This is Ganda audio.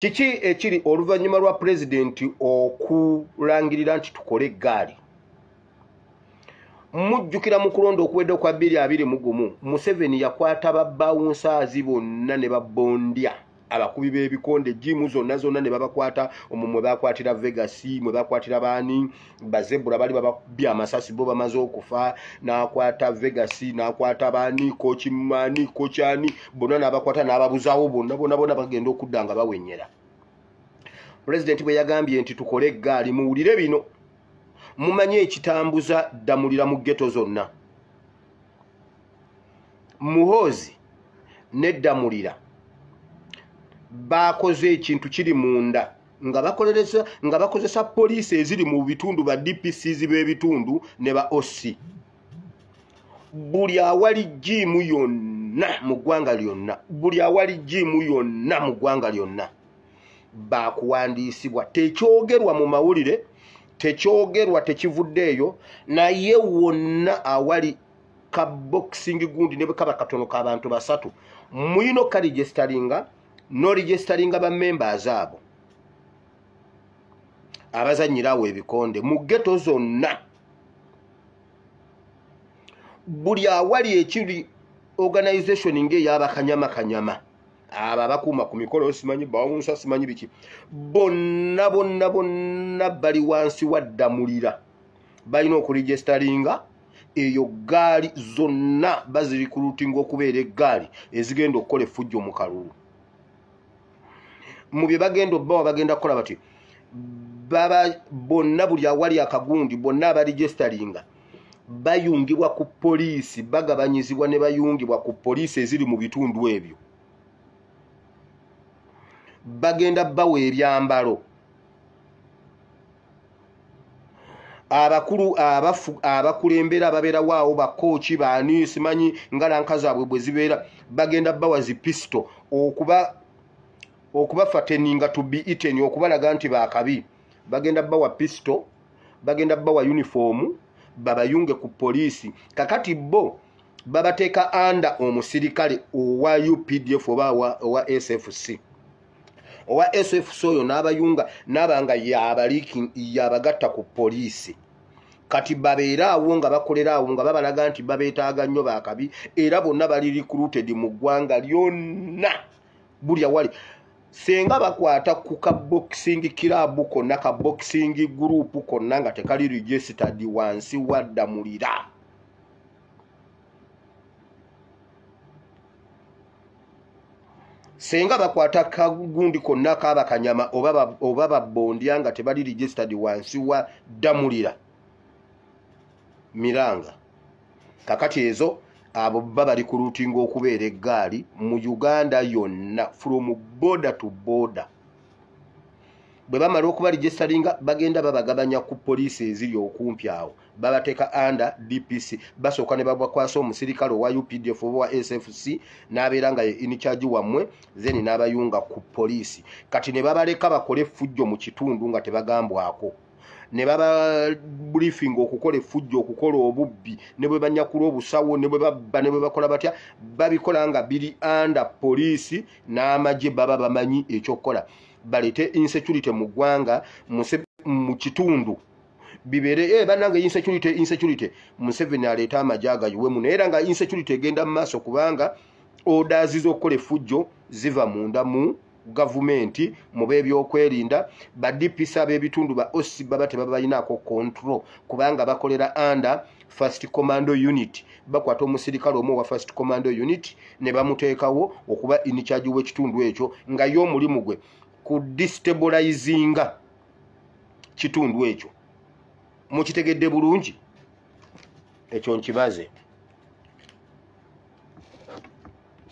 kiki ekiri oluvannyuma lwa pulezidenti okulangirira nti tukole eggaali mujjukira mu kulonda okuwedde okwa bbiri abiri mu gumu museveni yakwata babawunsaazi bonna ne babondya abakubi b'ebikonde jiimu zonna zonna ne babakwata omwo mwe bakwatira vegasi mwe bakwatira baani bazebula bali bababye amasasi bo bamaze okufa nakwata vegas nakwata bani kokimani kokyani bona nabakwata nababuzawo bonna bona bona bagenda okudda nga bawenyera pulezidenti bwe yagambye nti tukole eggaali muwulire bino mumanye ekitambuza ddamulira mu geto zonna muhoozi neddamulira baakoze ekintu kiri munda nga bakolereza nga bakozesa poliisi eziri mu bitundu ba dpcs b'ebitundu ne ba oc buli awali jiimu yonna mu ggwanga lyonna buli awali jiimu yonna mu ggwanga lyonna baakuwandiisibwa tekyogerwa mu mawulire tekyogerwa tekivuddeeyo naye wonna awali ka boxing gundi ne bwe kaba katono k'abantu basatu mulina okukalijesitalinga noregisteringa ba members abo abazanyira awo ebikonde mu geto zonna buli awali ekiri organization ngaeyabakanyama kanyama abo abakuuma ku mikolo simanyi bawunsa simanyi biki bonna bonna bonna bali wansi waddamulira balina okuregisteringa eyo gaali zonna bazirikulutinga okubeera eggaali ezigenda okukola effujjo mu kalulu mu bye bagenda obbawa bagenda kukola bati baba bonna buli awali akagundi bonna abarijisitalinga bayungibwa ku poliisi bagabanyizibwa ne bayungibwa ku poliisi eziri mu bitundu ebyo bagenda bawa ebyambalo abakulu abafu abakulembera ababeerawo awo bakooki baani simanyi ngalanka zaabwe bwe zibeera bagenda bawa zi pisito okuba okubafateninga to be eaten okubalaga nti bakabi bagenda bawa pisito bagenda bawa yunifoomu babayunge ku poliisi kakati bo babateeka anda omusirikale owa updf oba owa sfc owa sfc oyo n'abayunga n'aba nga yabagatta ku poliisi kati babeere awo nga bakolera awo nga babalaga nti babeetaaga nnyo bakabi era bonna bali recruited mu ggwanga lyonna buli awali senga bakwata ku ka boxing club konna ka boxing group konna nga tekali registered wansi wadda mulira senga bakwata kagundi konna kaaba kanyama oba babondya nga tebali registered wansi wa damulira miranga kakati ezo abo bba bali ku lutinga okubeera eggaali mu uganda yonna from border to border bwe bamala okuba registaringa bagenda babagabanya ku poliisi eziri okumpi awo babateeka under dpc basooka ne babakwasa omusirikale owa updf oba wa sfc n'abeera nga ye incharge wammwe then n'abayunga ku poliisi kati ne babaleka bakole effujjo mu kitundu nga tebagambwako ne bababriefinga okukola effujjo okukola obubbi ne bwe banyakula obusawo ne bwe babba ne bwe bakola batya babikola nga biri under poliisi n'amagye baba bamanyi ekyokukola baleete insecurity mu ggwanga mu kitundu bibere eh banange insecurity insecurity Museveni aleta amajaga yuwe muno era nga insecurity egenda mu maso kubanga orders z'okukola effujjo ziva munda mu gavumenti mu b'ebyokwerinda ba DPS ab'ebitundu ba OC baba tebabalinaako control kubanga bakolera under first commando unit bakwata omusirikale omu owa first commando unit ne bamuteekawo okuba in charge w'ekitundu ekyo nga ye omulimu gwe ku destabilizinga kitundu ekyo mukitegedde bulungi ekyo nkibaze